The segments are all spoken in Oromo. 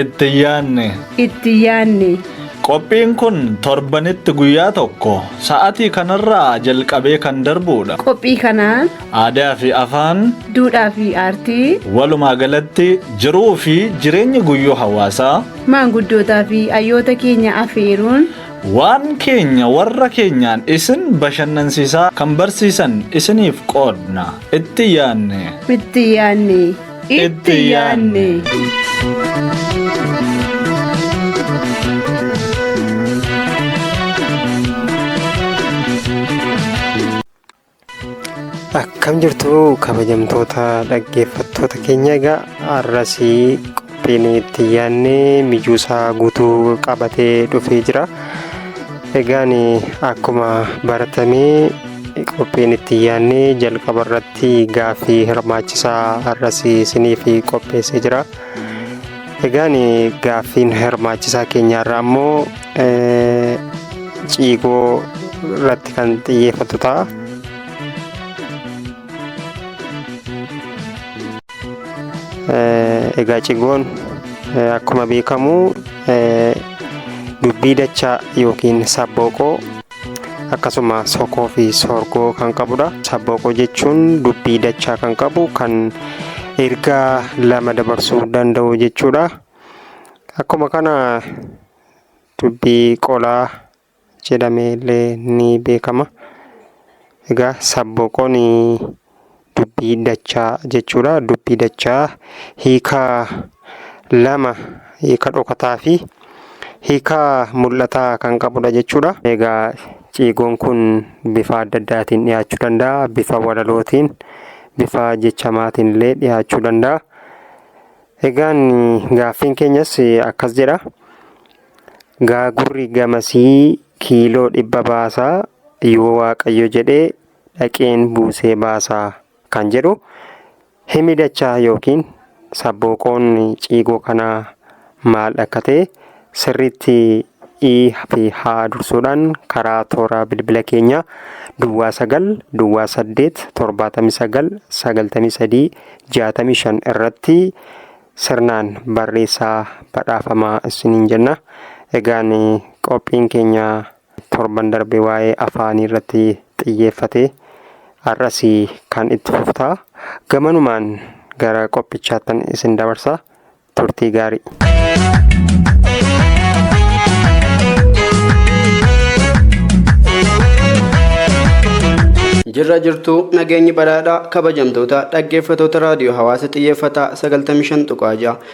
Itti yaanne. Itti yaanne. Qophiin kun torbanitti guyyaa tokko sa'atii kanarraa jalqabee kan darbuudha. Qophii kanaan Aadaa fi afaan duudhaa fi aartii walumaa galatti jiruu fi jireenya guyyuu hawaasaa maanguddootaa fi hayyoota keenya afeeruun Waan keenya warra keenyaan isin bashannansiisaa kan barsiisan isiniif qoodna. Itti yaanne. Itti yaanne. Itti yaanne. Akkam jirtu kabajamtoota dhaggeeffattoota keenya egaa har'asii qophiin itti yaadne mijuusaa guutuu qabatee dhufee jira. Egaan akkuma baratamee qophiin itti yaadne jalqaba irratti gaaffii hirmaachisaa har'as isiniif qopheessee jira. Egaan gaaffiin hirmaachisaa keenyaarraa ammoo eh, ciigoo irratti kan xiyyeeffatu ta'a. Eh, Egaa cigoon eh, akkuma beekamu eh, dubbii dachaa yookiin sabbooqoo akkasuma sokoo fi soorgoo kan qabudha. Sabbooqoo jechuun dubbii dachaa kan qabu kan ergaa lama dabarsuu danda'u jechuudha. Akkuma kana dubbii qolaa jedhamee illee ni beekama. Egaa sabbooqoon dubbii dachaa jechuudha. Dubbii dachaa hiika lama hiika dhokataa fi hiika mul'ataa kan qabudha jechuudha. Egaa ciigoon kun bifa adda addaatiin dhiyaachuu danda'a. Bifa walalootiin, bifa jechamaatiin illee dhiyaachuu danda'a. Egaan gaaffiin keenyas akkas jedha. Gaagurri gamasii kiiloo dhibba baasaa yoo waaqayyo jedhee dhaqeen buusee baasa kan jedhu himi dachaa yookiin sabbooqoon ciigoo kanaa maal akka ta'e sirriitti i fi h dursuudhaan karaa toora bilbila keenya duwwaa 9 duwwaa 8 79 93 65 irratti sirnaan barreessaa badhaafamaa isiniin jenna. Egaan qophiin keenya torban darbe waa'ee afaanii irratti xiyyeeffate har'as kan itti fufta gamanumaan gara qophichaattan isin dabarsa turtii gaarii. Jirra jirtuu nageenyi badhaadhaa kabajamtoota dhaggeeffatoota raadiyoo hawaasa xiyyeeffataa 95.6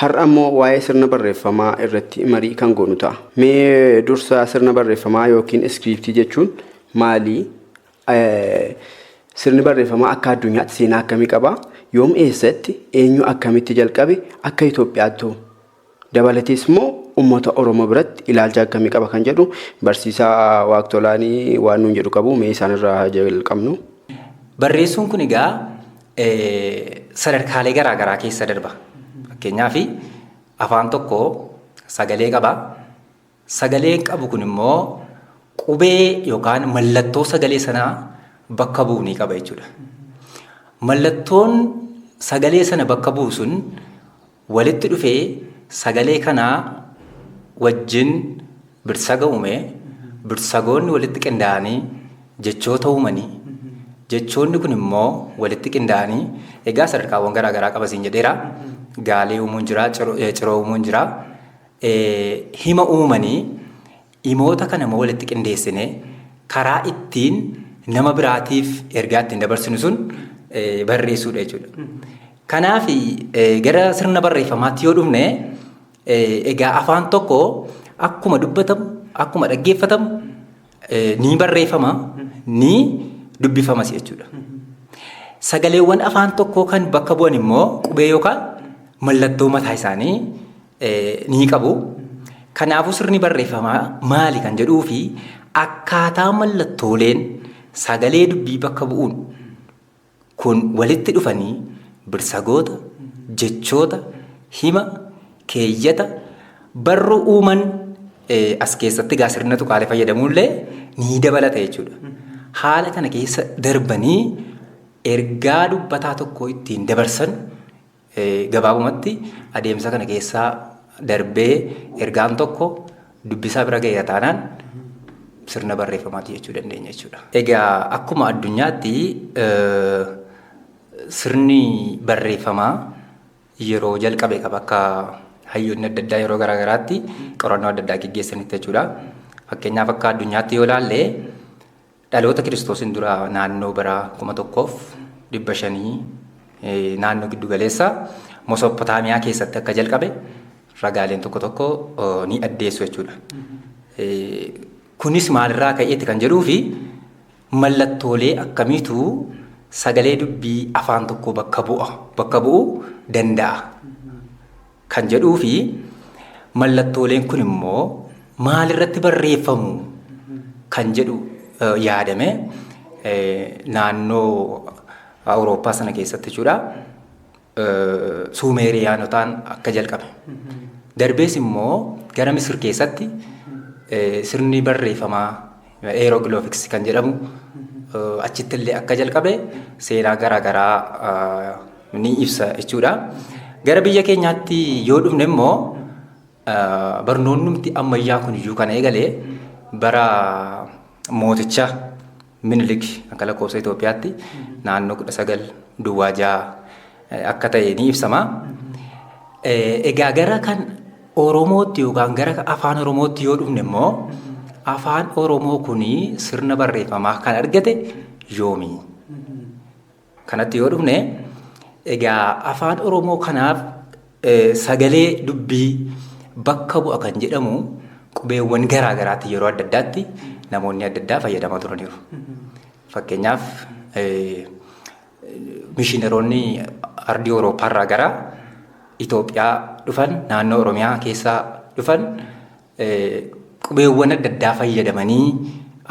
Har'a immoo waa'ee sirna barreeffamaa irratti marii kan goonu ta'a. Mee dursa sirna barreeffamaa yookiin iskiriiptii jechuun maali? Sirni barreeffamaa akka addunyaatti seenaa akkamii qaba? Yoom eessatti eenyu akkamitti jalqabe akka Itoophiyaattu dabalatees immoo uummata Oromoo biratti ilaalcha akkamii qaba kan jedhu barsiisaa Waaqtolaanii waan nuun jedhu qabu mee isaanirraa haa jalqabnu. Barreessuun kun egaa sadarkaalee garaa garaa keessa darba. Fakkeenyaaf afaan tokko sagalee qaba. Sagaleen qabu kun immoo qubee yookaan mallattoo sagalee sanaa bakka bu'u ni qaba jechuudha. Mallattoon sagalee sana bakka bu'u sun Walitti dhufee sagalee kanaa wajjin birsaga uumee, birsagoonni walitti qindaa'anii jechoota uumanii, jechoonni kun immoo walitti qindaa'anii egaa sadarkaawwan garaa garaa qaba siin jedheera. Gaalee uumuun jira, ciroo uumuun jira. Hima uumanii Himoota kana immoo walitti qindeessinee karaa ittiin nama biraatiif ergaa ittiin dabarsinu sun barreessuudha jechuudha. Kanaaf gara sirna barreeffamaatti yoo dhufne egaa afaan tokko akkuma dubbatamu akkuma dhaggeeffatamu ni barreeffama ni dubbifamas jechuudha. Sagaleewwan afaan tokkoo kan bakka bu'an immoo qubee yookaan mallattoo mataa isaanii ni qabu. Kanaafuu sirni barreeffamaa maali kan jedhuu fi akkaataa mallattooleen sagalee dubbii bakka bu'uun kun walitti dhufanii birsagoota, jechoota, hima, keeyyata, barruu uuman as keessatti gaa sirna tuqaalee fayyadamuullee ni dabalata jechuudha. Haala kana keessa darbanii ergaa dubbataa tokkoo ittiin dabarsan Gabaabumatti adeemsa kana keessa darbee ergaan tokko dubbisaa bira ga'eera taanaan sirna barreeffamaati jechuu dandeenya jechuudha. Egaa akkuma addunyaatti sirni barreeffamaa yeroo jalqabe qaba akka hayyoonni adda addaa yeroo garaa garaatti qorannoo adda addaa geggeessanitti jechuudha. Fakkeenyaaf akka addunyaatti yoo ilaalle Dhaloota Kiristoosiin dura naannoo bara 1500 naannoo giddu galeessa Mosopotaamiyaa keessatti akka jalqabe ragaaleen tokko tokko ni addeessu jechuudha. Kunis maalirraa ka'eetti kan jedhuu fi mallattoolee akkamiitu sagalee dubbii afaan tokkoo bakka bu'a bakka bu'uu danda'a. kan jedhuufi mallattooleen kun immoo maalirratti barreeffamu kan jedhu yaadame naannoo Awurooppaa sana keessatti jechuudha. Suumeeriyaanotaan akka jalqabe. Darbees immoo gara Misir keessatti sirni barreeffamaa Hieroglyphics kan jedhamu achitti illee akka jalqabe seenaa garaa garaa ni ibsa jechuudha. Gara biyya keenyaatti yoo dhufne immoo barnoonnumti ammayyaa kun iyyuu kan eegale bara mooticha Minilik akka lakkoofsa Itoophiyaatti naannoo kudha sagal duwwaa ja'a akka ta'e ni ibsama. Egaa gara kan Oromootti yookaan gara afaan Oromootti yoo dhufne immoo afaan Oromoo kun sirna barreeffamaa kan argate yoomi? Kanatti yoo dhufne egaa afaan Oromoo kanaaf sagalee dubbii bakka bu'a kan jedhamu qubeewwan garaa garaatti yeroo adda addaatti namoonni adda addaa fayyadamaa turaniiru. Fakkeenyaaf Mishiinaroonni ardii Awurooppaarraa gara Itoophiyaa dhufan naannoo Oromiyaa keessaa dhufan qubeewwan adda addaa fayyadamanii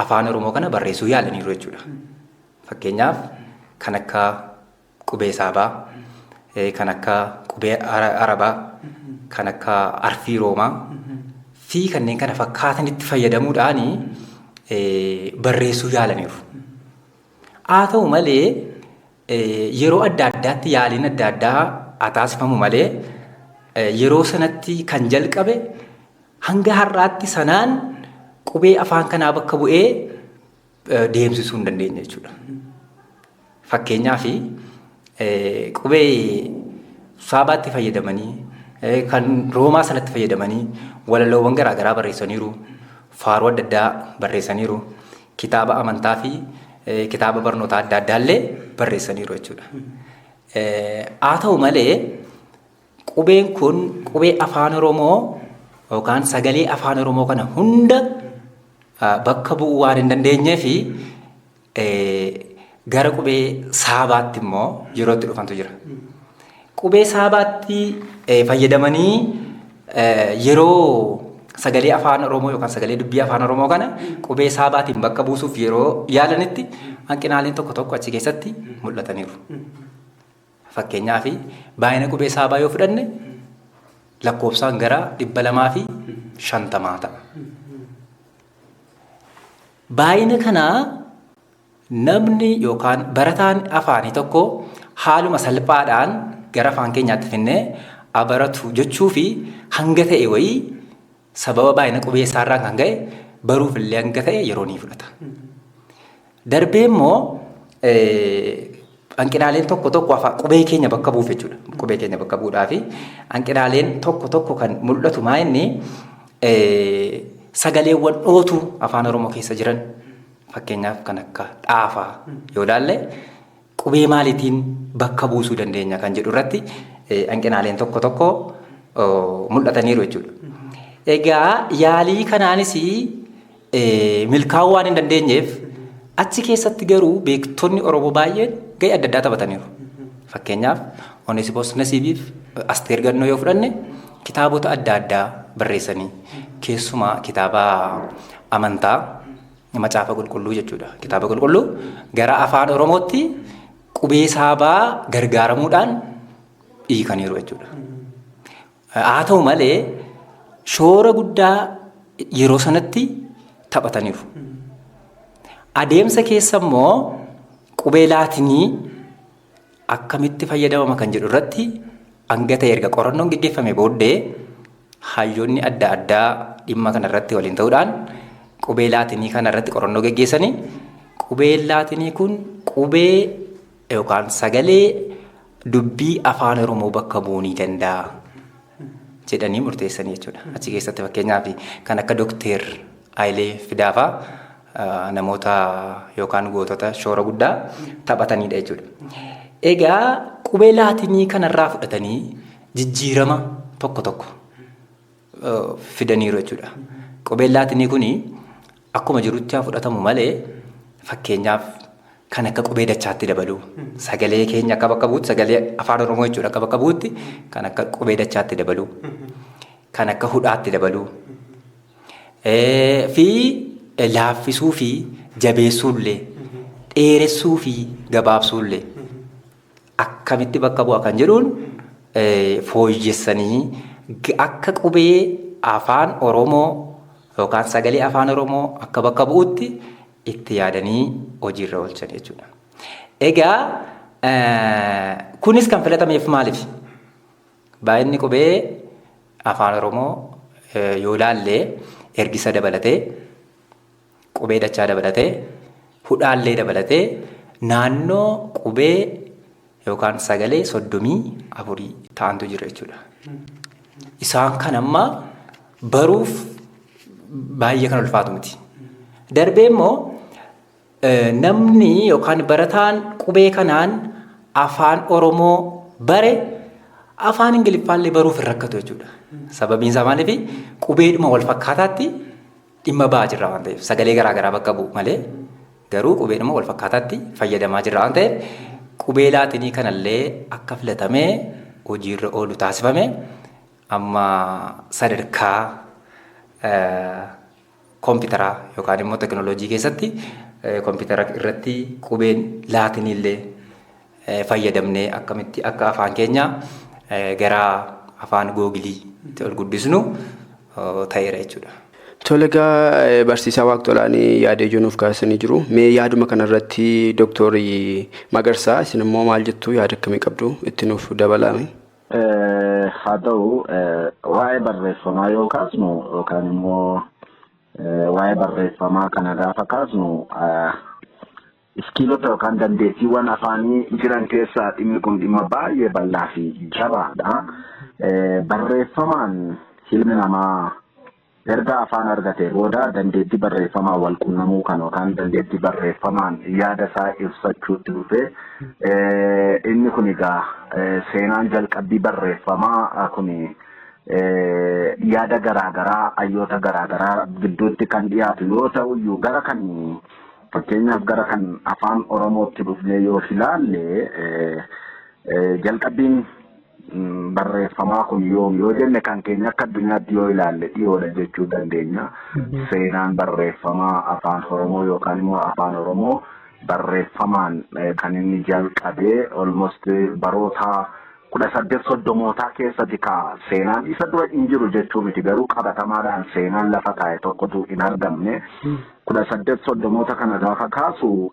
afaan Oromoo kana barreessuu yaalaniiru jechuudha. Fakkeenyaaf kan akka qubee saabaa, kan akka qubee arabaa, kan akka arfii roomaa fi kanneen kana fakkaatanitti fayyadamuudhaan barreessuu yaalaniiru. Haa ta'u malee yeroo adda addaatti yaaliin adda addaa haa taasifamu malee yeroo sanatti kan jalqabe hanga har'aatti sanaan qubee afaan kanaa bakka bu'ee deemsisuu hin dandeenye jechuudha. Fakkeenyaaf qubee saabaatti fayyadamanii kan roomaa sanatti fayyadamanii walaloowwan garaagaraa barreessaniiru. Faaruu adda addaa barreessaniiru. kitaaba amantaa fi kitaaba barnootaa adda addaa illee barreessaniiru jechuudha. Haa ta'u malee qubeen kun qubee afaan Oromoo yookaan sagalee afaan Oromoo kana hunda bakka bu'uu waan hin dandeenyee fi Gara qubee saabaatti immoo yeroo itti dhufantu jira. Qubee saabaatti eh, fayyadamanii eh, yeroo sagalee afaan Oromoo yookaan sagalee dubbii afaan Oromoo kana qubee saabaatiin bakka buusuuf yeroo yaalanitti hanqinaaleen tokko tokko achi keessatti mul'ataniiru. Fakkeenyaaf baay'ina qubee saabaa yoo fudhanne lakkoofsaan gara dhibba lamaa fi shantamaa ta'a. Baay'ina kanaa Namni yookaan barataan afaanii tokko haaluma salphaadhaan gara afaan keenyaatti finnee a baratu jechuufi hanga ta'e wayii sababa baay'ina qubeessaarraan kan ka'e baruuf illee hanga ta'e yeroo ni fudhata. Darbee immoo hanqinaaleen tokko tokko afaan qubee keenya bakka bu'uuf jechuudha. Qubee keenya bakka bu'uudhaafi hanqinaaleen tokko tokko kan mul'atu maa inni sagaleewwan dhootu afaan Oromoo keessa jiran Fakkeenyaaf kan akka dhaafaa yoo ilaalle qubee maaliitiin bakka buusuu dandeenya kan jedhu irratti hanqinaaleen tokko tokko mul'ataniiru jechuudha. Egaa yaalii kanaanis milkaa'uu waan hin dandeenyeef achi keessatti garuu beektonni Oromoo baay'een gahee adda addaa taphataniiru. Fakkeenyaaf Oneesimoos Nasiibiif Asteer Gannoo yoo fudhanne kitaabota adda addaa barreessanii keessumaa kitaaba amantaa Macaafa Qulqulluu jechuudha. Kitaaba Qulqulluu gara afaan Oromootti qubee saabaa gargaaramuudhaan hiikaniiru jechuudha. Haa ta'u malee shoora guddaa yeroo sanatti taphataniiru. Adeemsa keessa immoo qubee laatinii akkamitti fayyadamama kan jedhu irratti hanga ta'e erga qorannoon geggeeffame booddee hayyoonni adda addaa dhimma kana irratti waliin ta'uudhaan qubee laatinii kana irratti qorannoo geggeessanii qubeen laatinii kun qubee yookaan sagalee dubbii afaan Oromoo bakka bu'uu ni danda'a jedhanii murteessanii jechuudha. Achi keessatti fakkeenyaaf kan akka Dookteer Hayilee Fidaafaa namoota yookaan gootota shoora guddaa taphataniidha jechuudha. Egaa qubee laatinii kanarraa fudhatanii jijjiirama tokko tokko fidaniiru jechuudha. Qubeen laatinii kun akkuma jirutti haa fudhatamu malee fakkeenyaaf kan akka qubee dachaatti dabaluu sagalee keenya akka bakka buutti sagalee afaan oromoo jechuudha akka bakka buutti kan akka qubee dachaatti dabaluu kan akka hudhaatti dabaluu fi laaffisuu fi jabeessuullee dheeressuu fi gabaabsuullee akkamitti bakka bu'a kan jedhuun fooyyessanii akka qubee afaan Oromoo yookaan sagalee afaan Oromoo akka bakka bu'utti itti yaadanii hojiirra oolchan jechuudha. Egaa kunis kan filatameef maaliif? Baay'inni qubee afaan Oromoo yoo ilaalle ergisa dabalatee, qubee dachaa dabalatee, hudhaallee dabalatee naannoo qubee yookaan sagalee soddomii afurii ta'antu jira jechuudha. Isaan kan amma baruuf baay'ee kan ulfaatu miti. Darbee immoo Namni yookaan barataan qubee kanaan afaan Oromoo bare afaan Ingiliffaallee baruuf hin rakkatu jechuudha. Sababiin isaa maaliifi qubeedhuma wal fakkaataatti dhimma ba'aa jirra waan ta'eef sagalee garaa garaa bakka bu'u malee garuu qubeedhuma wal fakkaataatti fayyadamaa jirra waan ta'eef qubee laatinii kanallee akka filatamee hojiirra oolu taasifame amma sadarkaa Kompitaraa yookaan immoo teknolojii keessatti kompitara irratti qubeen laatinii illee fayyadamnee akkamitti akka afaan keenya gara afaan googilii itti ol guddisnu ta'eera jechuudha. Tole egaa barsiisaa waaqtolaan yaada ijoo nuuf kaasanii jiru. Mee yaaduma kanarratti dooktorii Magarsaa isin immoo maal jettu yaada akkamii qabdu itti nuuf dabalaa. Haa ta'u waa'ee barreeffamaa yoo kaasnu yookaan immoo waa'ee barreeffamaa kana gaafa kaasnu iskiilota yookaan dandeettiiwwan afaanii jiran keessaa dhimmi kun dhimma baay'ee bal'aa fi jabaadha. Barreeffamaan ilmi namaa Erga afaan argatee booda dandeettii barreeffamaan walqunnamuu kan yookaan dandeettii barreeffamaan yaada isaa ibsachuutti dhufee inni kun egaa seenaan jalqabbii barreeffamaa kun yaada garaagaraa hayyoota garaagaraa gidduutti kan dhiyaatu yoo ta'u iyyuu gara kan fakkeenyaaf gara kan afaan Oromootti dhufnee yoo ilaalle jalqabbiin barreeffamaa kun yoom yoo jenne kan keenya akka addunyaatti yoo ilaalle dhiyoodha jechuu dandeenya. Seenaan barreeffamaa afaan Oromoo yookaan immoo afaan Oromoo barreeffamaan kan inni jalqabee almost baroota kudha saddeet soddomootaa keessatti ka seenaan isa dura hin jiru jechuu miti garuu qabatamaadhaan seenaan lafa taa'e tokkotu hin argamne kudha saddeet soddomoota kana gaafa kaasu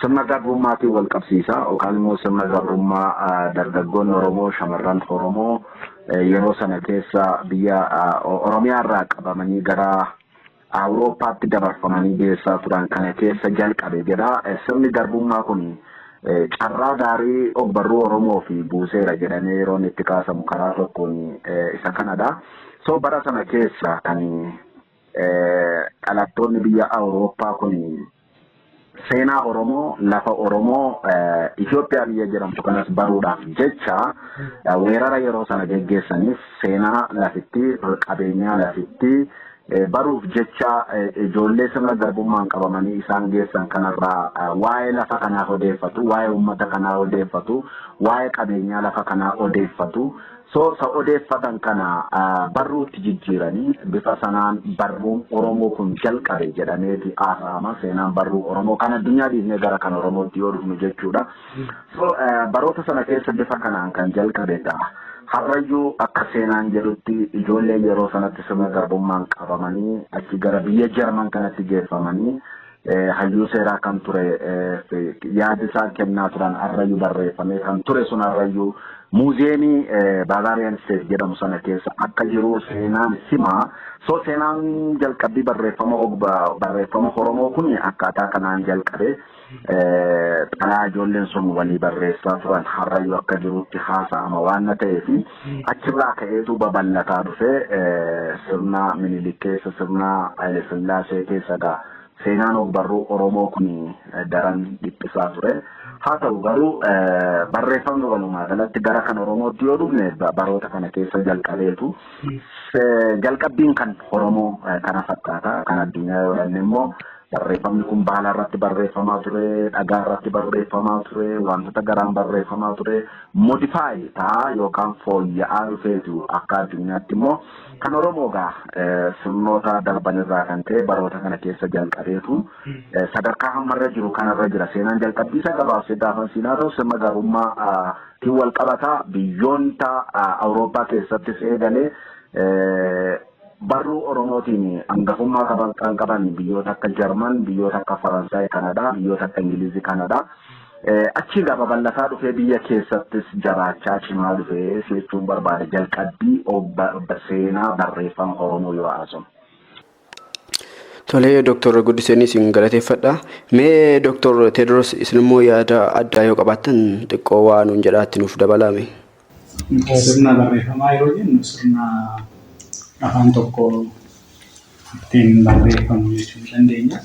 sirna garbrummaatiin wal qabsiisa yookaan immoo sirna garbrummaa dargaggoonni Oromoo shamarran Oromoo yeroo sana keessa biyya Oromiyaa irraa qabamanii gara Awurooppaatti dabarfamanii geessaa turan kana keessa jalqabe jedha. Sirni garbummaa kun carraa gaarii ogbarruu Oromoo fi buuseera jedhamee yeroo inni itti kaasamu karaa tokkoon isa kanadha. So bara sana keessa kan Dhalattoonni biyya Awurooppaa kun seenaa Oromoo, lafa Oromoo, Itoophiyaa biyya jedhamtu kanas baruudhaaf jecha weerara yeroo sana geggeessaniif seenaa lafittii, qabeenyaa lafittii baruuf jecha ijoollee sirna garbummaan qabamanii isaan geessan kanarraa waa'ee lafa kanaa odeeffatu, waa'ee uummata kanaa odeeffatu, waa'ee qabeenyaa lafa kanaa odeeffatu. Soorsa odeeffatan kana barruutti jijjiiranii bifa sanaan barruun Oromoo kun jalqabe jedhameeti haasa'ama. Seenaan barruu Oromoo kan addunyaa dhiisnee gara kan Oromootti yoo dhufnu jechuudha. So, eh, baroota sana keessa bifa kanaan kan jalqabe ta'a. Har'ayyuu akka seenaan jedhutti ijoolleen yeroo sanatti sirna garbummaan qabamanii achi gara biyya Jarman kanatti geeffamanii hayyuu seeraa kan ture yaada isaan kennaa turan har'ayyuu barreeffamee kan ture sun har'ayyuu muuziyeemii Barbarian State jedhamu sana keessa akka jiru seenaan hima. So seenaan jalqabbii barreeffama barreeffama Oromoo kun akkaataa kanaan jalqabe xalaa ijoolleen sun walii barreessaa turan har'ayyuu akka jirutti haasa'ama waan ta'eef Achirraa ka'eetu babal'ataa dhufe. Sirna Minilik keessa, sirna Hayile Sillaasee keessa egaa seenaan ogbarruu Oromoo kun daran dhiphisaa ture. Haa ta'u garuu barreeffamni walumaa galatti gara kan Oromootti yoo dhufne baroota kana keessa jalqabeetu. Jalqabbiin kan Oromoo kana fakkaata. Kan addunyaa yoo dhanne immoo barreeffamni kun baala irratti barreeffamaa ture, dhagaa irratti barreeffamaa ture, wantoota garaan barreeffamaa ture. modify ta'a yookaan fooyya'aa dhufeetu akka addunyaatti immoo kan Oromoo gaa sirnoota darban irraa kan ka'e baroota kana keessa jalqabeetu sadarkaa hammarra jiru kanarra jira seenaan jalqabbiisa gabaabsee gaafan siinaa ta'u sirna garbummaa tiin wal qabata biyyoota Awurooppaa keessattis eegalee Barruu Oromootiin angafummaa qaban kan qaban biyyoota akka Jarman, biyyoota akka Faransaay kanadha, biyyoota akka Ingiliizi kanadha. Achii egaa babal'ataa dhufee biyya keessattis jaraachaa cimaa dhufee si jechuun barbaada jalqabbii seenaa barreeffama Oromoo yoo haasofnu. Tolee Dooktor Guddiseen isin galateeffadha. Mee Dooktor Teediroos isinimmoo yaada addaa yoo qabaattan xiqqoo waa nuun jedhaatti nuuf dabalaame. Sirna barreeffamaa yeroo jennu sirna afaan tokko ittiin barreeffamu jechuu ni dandeenya.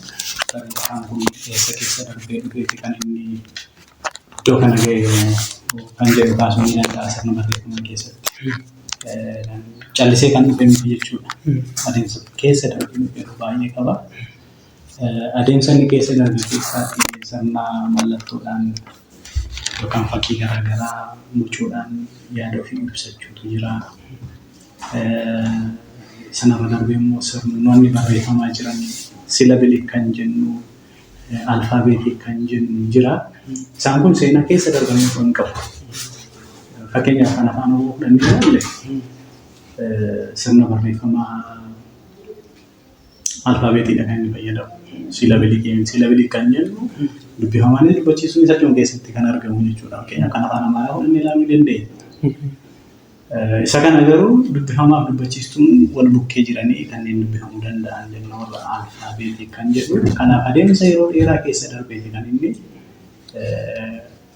Sirni afaan kun eessa keessa darbee dhufeeti kan inni iddoo kana ga'e kan jedhu kaasuun ni danda'a sirna barreeffamaa keessatti. Callisee kan dhufe miti jechuudha. Adeemsa keessa darbee dhufe yeroo baay'ee qaba. Adeemsa inni keessa darbe keessaatti sirna mallattoodhaan yookaan fakkii garaa garaa bocuudhaan yaada ofii ibsachuutu jira. Sanarra darbee immoo sirnoonni barreeffamaa jiran silabilik kan jennu, alfaabeetik kan jennu jira. Isaan kun seenaa keessa darbanii osoo hin qabu. Fakkeenyaaf kan afaan Oromoo fudhannee ilaalle sirna barreeffamaa alfaabeetiidha kan inni fayyadamu. Siilabilii keenya siilabilii kan jennu dubbifamaan inni dubbachiisuun isa dhuma keessatti kan argamu jechuudha. Fakkeenyaaf kan afaan amaaraa fudhannee ilaaluu dandeenya. Isa kana garuu dubbifamaaf dubbachiistuun wal bukkee jiranii kanneen dubbifamuu danda'an jenna warra alfaabeetii kan jedhu. Kanaaf adeemsa yeroo dheeraa keessa darbeeti kan inni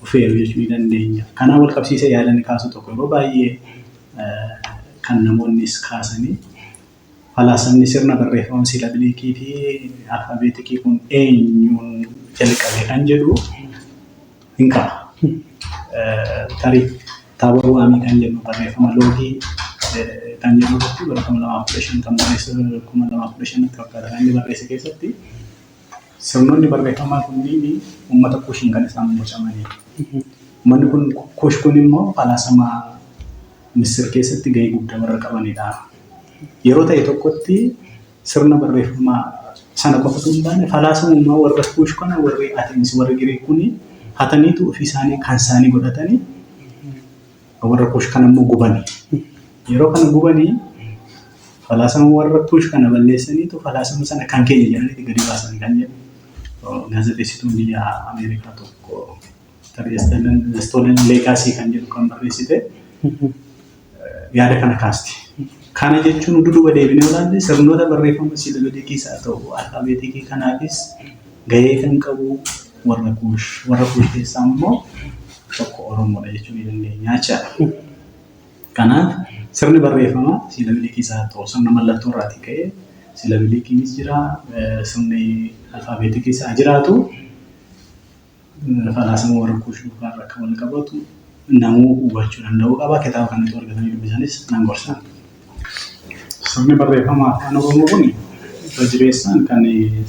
dhufeeru jechuu ni dandeenya. Kanaan wal qabsiisee yaadani kaasu tokko yeroo baay'ee kan namoonnis kaasanii Falaasamni sirna barreeffama siilabiliikii fi alfaabeetikii kun eenyuun jalqabe kan jedhu hin ka'a. Tarii Taabor Waamii kan jedhu barreeffama loogii kan jedhu irratti bara 2015 kan barreesse 2015 akka fakkaata kan inni barreesse keessatti Sirnoonni barreeffamaa kunniin uummata Kuushiin kan isaan bocamaniidha. Uummanni kun Kuush kun immoo falaasama Misir keessatti gahee guddaa warra qabanidha. Yeroo ta'e tokkotti sirna barreeffamaa sana qofa osoo hin taane falaasamummaa warra Kuush kana warri Ateensi warri Giriik kun hataniitu ofii isaanii kan isaanii godhatanii warra kuush kana immoo gubani. Yeroo kana gubanii falaasama warra kuush kana balleessaniitu falaasama sana kan keenya jedhaniiti gadi baasan kan jedhu gaazexeessituun biyya Ameerikaa tokko Stolen Legacy kan jedhu kan barreessite yaada kana kaasti. Kana jechuun utuu duuba deebinee olaanne sirnoota barreeffama siiloojikii isaa ta'u alfaabeetikii kanaafis gahee kan qabu warra Kuush, warra Kuush keessaa immoo tokko Oromoodha jechuu ni dandeenya jechaadha. Kanaaf sirni barreeffama siilabilikii isaa haa ta'u sirna mallattoo irraatii ka'ee siilabilikiinis jira, sirni alfaabeetikiis haa jiraatu falaasama warra Kuush duukaa irra akka wal qabatu namuu hubachuu danda'uu qaba. Kitaaba kana utuu argatanii dubbisanis nan gorsa. Sirni barreeffama Afaan Oromoo kun irra jireessaan kan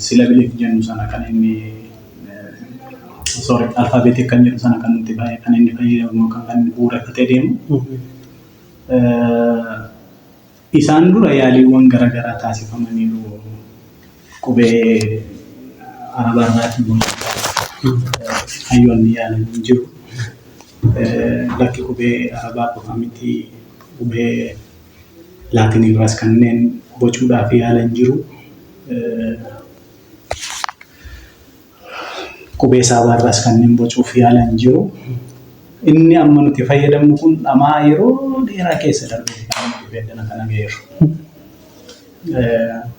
silabilik jennu sana kan inni sorry alfaabeetik kan jedhu sana kan nuti baay'ee kan inni fayyadamu yookaan kan inni bu'uureffatee deemu. Isaan dura yaaliiwwan garaagaraa taasifamaniiru. qubee arabaa irraatii bocuudhaaf hayyoonni yaalan hin jiru. Lakki qubee arabaa qofa miti qubee laatinii irraas kanneen bocuudhaaf yaalan jiru. Qubee saabaa irraas kanneen bocuuf yaalan jiru. Inni amma nuti fayyadamnu kun dhama'aa yeroo dheeraa keessa darbeeti kan inni qubee addana kana ga'eeru.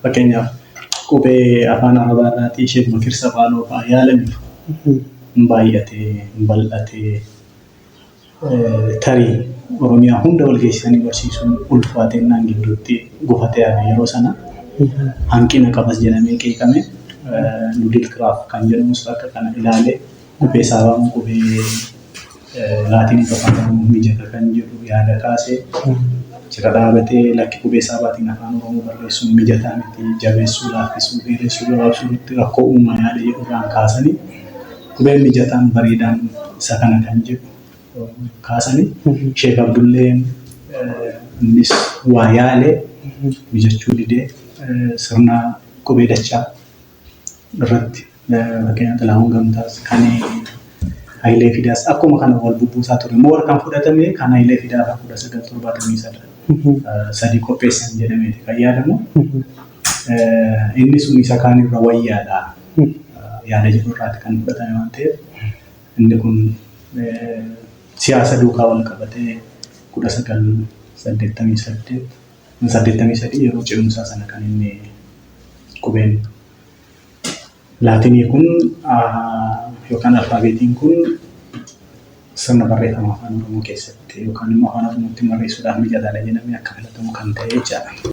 Fakkeenyaaf qubee afaan arabaa irraatii Sheek Bakir Safaanoo fa'aa yaalaniiru. Hin baay'atee, hin bal'atee. tarii Oromiyaa hunda wal geessisanii barsiisuun ulfaatennaan gidduutti gufate yaada yeroo sana hanqina qabas jedhamee qeeqame Nudil Kiraaf kan jedhamus akka kana ilaalee qubee saabaan qubee laatiin afaan Oromoo mijata kan jedhu yaada kaasee jira dhaabatee lakki qubee saabaatiin afaan Oromoo barreessuun mijataa miti jabeessuu laaffisuu dheeressuu gabaabsuu irratti rakkoo uumaa yaada jedhu irraan kaasanii Qubeen mijataan, bareedaan isa kana kan jedhu kaasani. Sheek Abdulleen innis waa yaale mijachuu didee sirna qubee dachaa irratti fakkeenyaaf Xilaahuun Gamtaas kan Hayilee Fidaas akkuma kana wal bubbuusaa ture. Moor kan fudhatame kan Hayilee Fidaa fa'aa 1973 qopheessan jedhameeti kan yaadamu. Inni sun isa kaan irra wayyaadha. yaada jedhu irraati kan fudhatame waan ta'eef inni kun siyaasa duukaa wal qabatee kudha sagal saddeettamii saddeet saddeettamii sadii yeroo ce'umsaa sana kan inni qubeen laatinii kun yookaan alfaabeetiin kun sirna barreeffama afaan oromoo keessatti yookaan immoo afaan oromootti barreessuudhaaf mijataadha jedhamee akka filatamu kan ta'e jechaadha.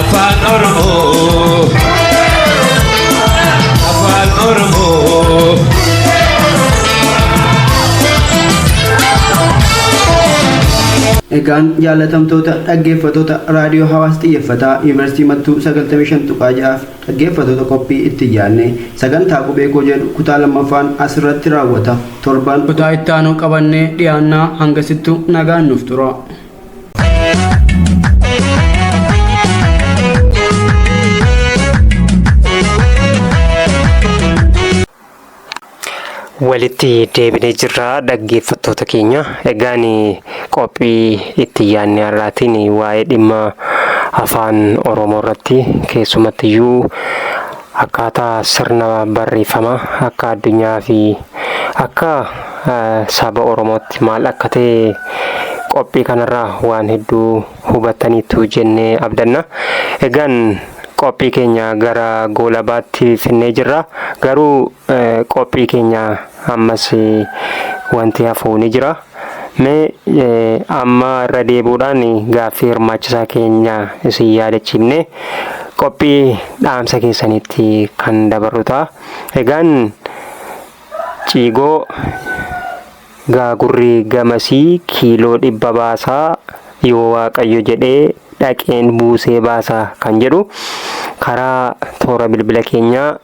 Afaan Oromoo. Afaan Oromoo. Egaan jaalatamtoota dhaggeeffatoota raadiyoo hawaas xiyyeeffataa yuunivarsiitii mattuu 95.6f dhaggeeffatoota qophii itti yaadne sagantaa qubee koo jedhu kutaa lammaffaan asirratti raawwata torban kutaa itti aanu qabannee dhiyaannaa hangasittu nagaan nuuf tura. walitti deebinee jirra dhaggeeffattoota keenya egaan qophii itti yaadne har'aatiin waa'ee dhimma afaan oromoo irratti keessumatti iyyuu Akkaataa sirna barreeffamaa akka addunyaa fi akka saba Oromootti maal akka ta'e qophii kanarraa waan hedduu hubattaniittu jennee abdanna. Egaan qophii keenya gara goolabaatti finnee jirra. Garuu Qophii keenya ammas wanti hafu ni jira. Mee amma irra deebuudhaan gaaffii hirmaachisaa keenya isin yaadachiifne qophii dhaamsa keessanitti kan dabarru ta'a. Egaan ciigoo gaagurri gamasii kiiloo dhibba baasaa yoo waaqayyo jedhee dhaqeen buusee baasa kan jedhu karaa toora bilbila keenyaa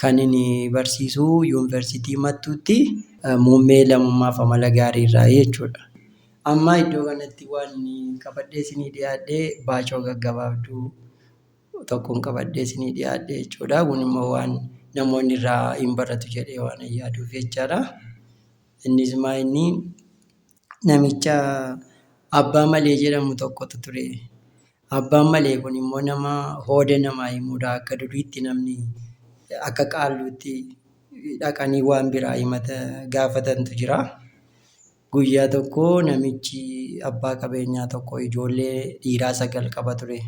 Kanin barsiisu Yuunivarsiitii Mattuutti. Muummee Lammummaaf Amala Gaarii irraayi jechuudha. Amma iddoo kanatti waan qabadhee isinii dhiyaadhe baacoo gaggabaabduu tokkon qabadhee isinii dhiyaadhe jechuudha. Kun immoo waan namoonni irraa hin baratu jedhee waanan yaaduuf jechaadha. Innis maa inni namicha Abbaa Malee jedhamu tokkotu ture. Abbaan malee kun immoo nama hooda namaa hin muda akka duriitti namni akka qaalluutti dhaqanii waan biraa himata gaafatantu jira. Guyyaa tokko namichi abbaa qabeenyaa tokko ijoollee dhiiraa sagal qaba ture.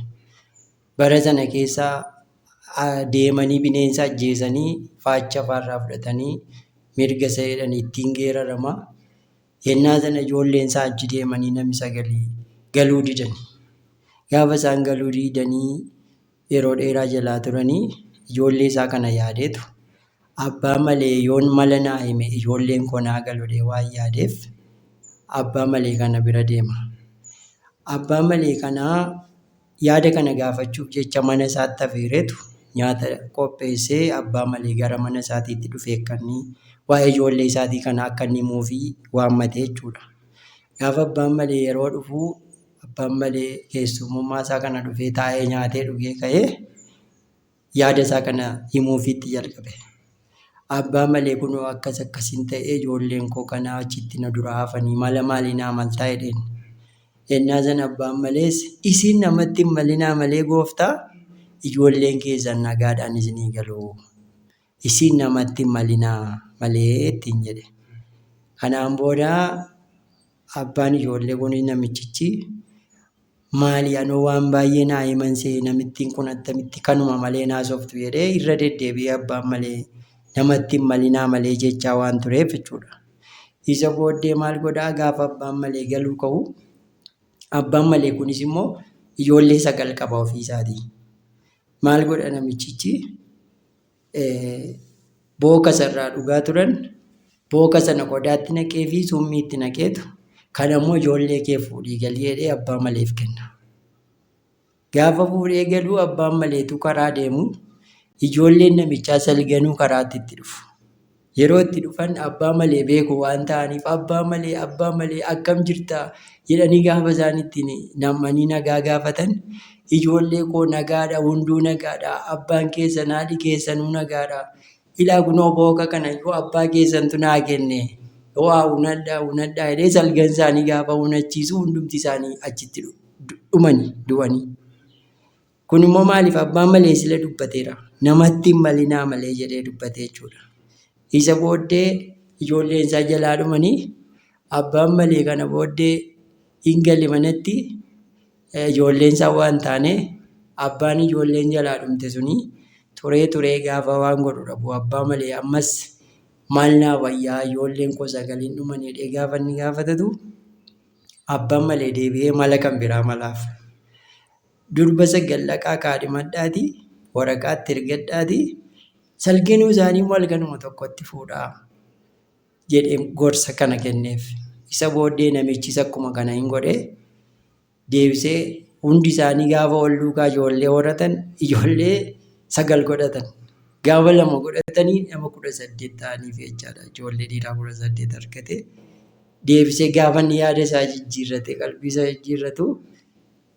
Bara sana keessa deemanii bineensa ajjeesanii faacha faarraa fudhatanii mirga isa jedhan ittiin geerarama. Yennaa tana ijoolleen isaa achi deemanii nami sagalii galuu didani. Gaafa isaan galuu diidanii yeroo dheeraa jalaa turanii ijoollee isaa kana yaadeetu abbaa malee yoon mala naa hime ijoolleen koo naa galudhee waan yaadeef abbaa malee kana bira deema. Abbaa malee kanaa Yaada kana gaafachuuf jecha mana isaatti afeereetu nyaata qopheessee abbaa malee gara mana isaatiitti dhufee akka inni waa'ee ijoollee isaatii kana akka inni himuufii waammate jechuudha. Gaafa abbaan malee yeroo dhufu abbaan malee keessummummaa isaa kana dhufee taa'ee nyaatee dhugee ka'ee Yaada isaa kana himuufii itti jalqabe. Abbaa malee kunoo akkas akkasiin ta'ee ijoolleen koo kanaa achitti na duraa hafanii mala maalii naa maltaa jedheen. Ennaa san abbaan malees isiin namatti hin malinaa malee gooftaa ijoolleen keessan nagaadhaan isinii galu. Isiin namatti hin malinaa malee ittiin jedhe. Kanaan booda abbaan ijoollee kunis namichichi Maali anoo waan baay'ee naa himan se'e namittiin kun attamitti kanuma malee hin haasoftu jedhee irra deddeebi'ee abbaan malee namatti hin malinaa malee jechaa waan tureef jechuudha. Isa booddee maal godhaa gaafa abbaan malee galuu ka'u abbaan malee kunis immoo ijoollee sagal qaba ofii isaatii. Maal godha namichichi booka sanarraa dhugaa turan booka sana qodaatti naqee fi summii itti naqeetu kan ammoo ijoollee kee fuudhii galii jedhee abbaa maleef kenna. Gaafa fuudhee galuu abbaan maleetu karaa deemu ijoolleen namichaa salganuu karaatti itti dhufu. Yeroo itti dhufan abbaa malee beeku waan ta'aniif abbaa malee abbaa malee akkam jirta jedhanii gaafa isaan ittiin nam'anii nagaa gaafatan ijoollee koo nagaadha hunduu nagaadha abbaan keessan haadhi keessanuu nagaadha ilaa kunoo booka kana yoo abbaa keessantu naa kenne waa unadhaa unadhaa jedhee salgan isaanii gaafa unachiisu hundumti isaanii achitti dhumanii du'anii. Kun immoo maaliif abbaan maleessile dubbateera. Namatti hin malinaa malee jedhee dubbatee jechuudha. Isa booddee ijoolleen isaa jalaa dhumanii abbaan malee kana booddee hin gale manatti ijoolleen isaa waan taane abbaan ijoolleen jalaa dhumte suni turee turee gaafa waan godhu dhabu abbaa malee ammas maal naa wayyaa ijoolleen koo sagaliin dhuman jedhee gaafa inni gaafatatu abbaan malee deebi'ee mala kan biraa malaaf. Durba sagal dhaqaa kaadhimadhaatii waraqaa itti ergadhaatii salginuu isaanii immoo halkanuma tokkotti fuudhaa jedhee gorsa kana kenneef. Isa booddee namichis akkuma kana hin godhe deebisee hundi isaanii gaafa wal duukaa ijoollee horatan ijoollee sagal godhatan. Gaafa lama godhatanii nama kudha saddeet ta'aniif jechaadha. Ijoollee dhiiraa kudha saddeet argate. Deebisee gaafa inni yaada isaa jijjiirrate qalbii isaa jijjiirratu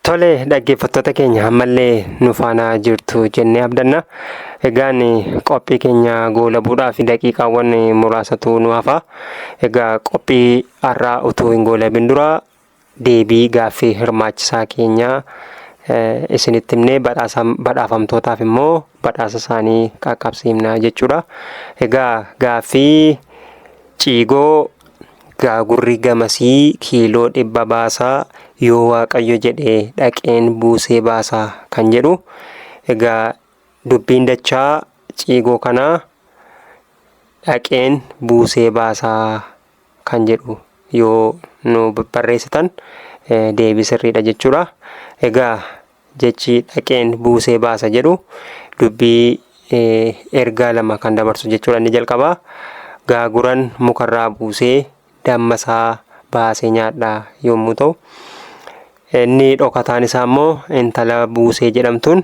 Tole dhaggeeffattoota keenya ammallee nu faana jirtu jennee abdanna. Egaan qophii keenya goolabuudhaaf daqiiqaawwan muraasatu nu hafa. Egaa qophii har'aa utuu hin goolabin dura deebii gaaffii hirmaachisaa keenya eh, isinitti himnee badhaasa badhaafamtootaaf immoo badhaasa isaanii qaqqabsiifna jechuudha. Egaa gaaffii ciigoo Gaagurri gamasii kiiloo dhibba baasa yoo waaqayyo jedhe dhaqeen buusee baasa kan jedhu egaa dubbiin dachaa ciigoo kanaa dhaqeen buusee baasa kan jedhu yoo nu barreessitan deebii sirriidha jechuudha. Egaa jechi dhaqeen buusee baasa jedhu dubbii ergaa lama kan dabarsu jechuudha inni jalqabaa gaaguran mukarraa buusee damma isaa baasee nyaadha yommuu ta'u inni dhokataan isaa immoo intala buusee jedhamtuun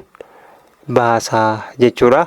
baasa jechuudha.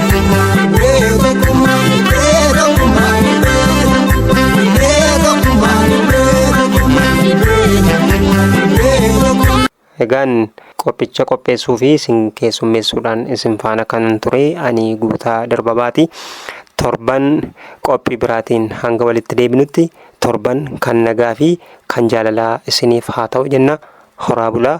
Egaan qophicha qopheessuu fi isin keessummeessuudhaan isin faana kan ture ani guutaa darbabaati. Torban qophii biraatiin hanga walitti deebinutti torban kan nagaa fi kan jaalalaa isiniif haa ta'u jenna. Horaa bulaa